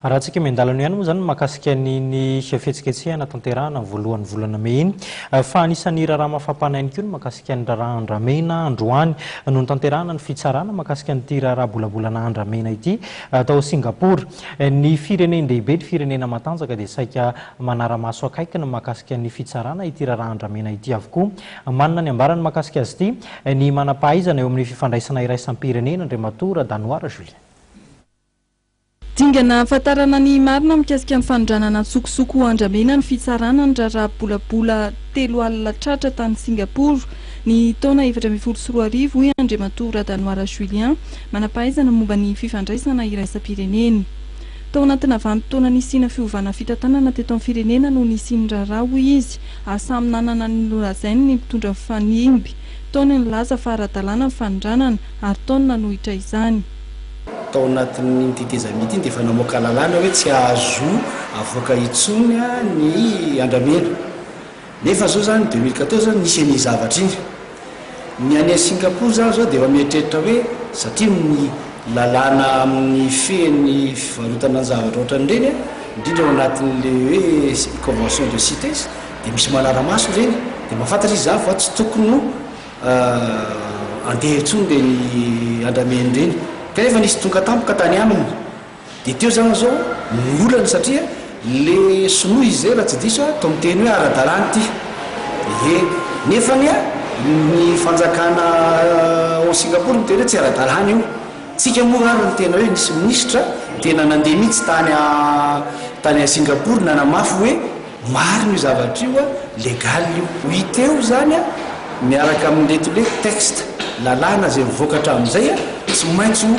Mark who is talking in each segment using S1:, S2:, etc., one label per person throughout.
S1: Raha tsy kimen-dalana ihany moa izany ny mahakasika an'iny fihetsiketsehana tanterahana ny voalohan'ny volana mey iny fa anisan'ny raharaha mafampana ihany koa ny mahakasika ny raharaha andramena androany no nitanterahana ny fitsarana mahakasika an'ity raharaha bolabolana andramena ity tao Singapor. Ny firenen-dehibe, ny firenena matanjaka dia saika manara-maso akaiky ny mahakasika ny fitsarana ity raharaha andramena ity avokoa. Manana ny ambarany mahakasika azy ity ny manam-pahaizana eo amin'ny fifandraisana iraisam-pirenena Andriamatoa Radanoara Julien. Dingana
S2: hahafantarana ny marina mikasika ny fanondranana an-tsokosoko ho andramena ny fitsarana ny raharaha bolabola telo alina tratra tany Singaporo ny taona efatra ambin'ny folo sy roa arivo, hoy Andriamatoa Radanoara Julien, manam-pahaizana momba ny fifandraisana iraisam-pirenena. Tao anatina vanim-potoana nisiana fiovana fitantanana teto amin'ny firenena no nisian'ny raharaha, hoy izy, ary samy nanana ny nolazainy ny mpitondra mifanimby, tao ny nilaza fa ara-dalàna ny fanondranana, ary tao ny nanohitra izany. Tao
S3: anatin'iny tetezamita iny dia efa namoaka lalàna hoe tsy azo avoaka intsony ny andramena. Nefa izao izany deux mille quatorze izany nisy an'iny zavatra iny. Ny any Singapour izany izao dia efa mieritreritra hoe satria amin'ny lalàna amin'ny fehiny fivarotana ny zavatra ohatran'ireny indrindra ao anatin'ilay hoe convention de Cites dia misy manara-maso ireny dia mahafantatra izy izany fa tsy tokony ho Ahh andeha intsony ve ry andramena ireny kanefa nisy tonga tampoka tany aminy dia teo zany zao ny olany satria le sinoa izy zay raha tsy diso aho toa miteny hoe ara-dalàna ity ee nefa anie ny fanjakana ao Singapour miteny hoe tsy ara-dalàna io tsika moa ary ny tena hoe nisy minisitra tena nandeha mihitsy tany tany Singapour nanamafy hoe Marina io zavatra io a, legal io. Ho hita eo izany a, miaraka amin'ireto hoe texte, lalàna izay mivoaka hatramin'izay a, tsy maintsy ho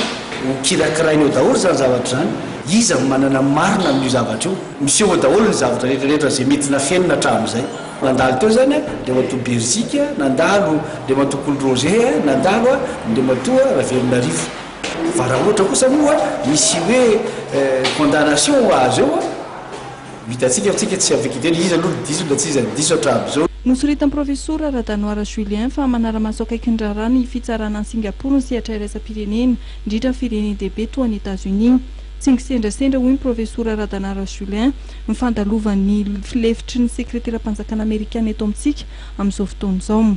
S3: ho kirakiraina eo daholo izany zavatra izany. Iza no manana ny marina amin'io zavatra io? Miseho eo daholo ny zavatra rehetrarehetra izay mety nafenina hatramin'izay. Nandalo teo izany a, Andriamatoa Berzik a, nandalo Andriamatoa Kolo Roger a, nandalo a, Andriamatoa Ravelonarivo. Fa raha ohatra kosa moa misy hoe condamnation azo eo a, Ho hitantsika fa tsika tsy amin'ny Wikipedia, iza aloha no diso na tsy iza no diso hatramin'izao. Nosoritan'ny Profesora
S2: Radanoara Julien fa manara-maso akaiky ny raharaha ny fitsarana an'i Singapour ny sehatra iraisam-pirenena indrindra ny firenen-dehibe toa an'i Etazonia. Tsy ngisendrasendra hoy ny Profesora Radanoara Julien ny fandalovan'ny lefitry ny Sekreteram-panjakana Amerikana eto amintsika amin'izao fotoana izao.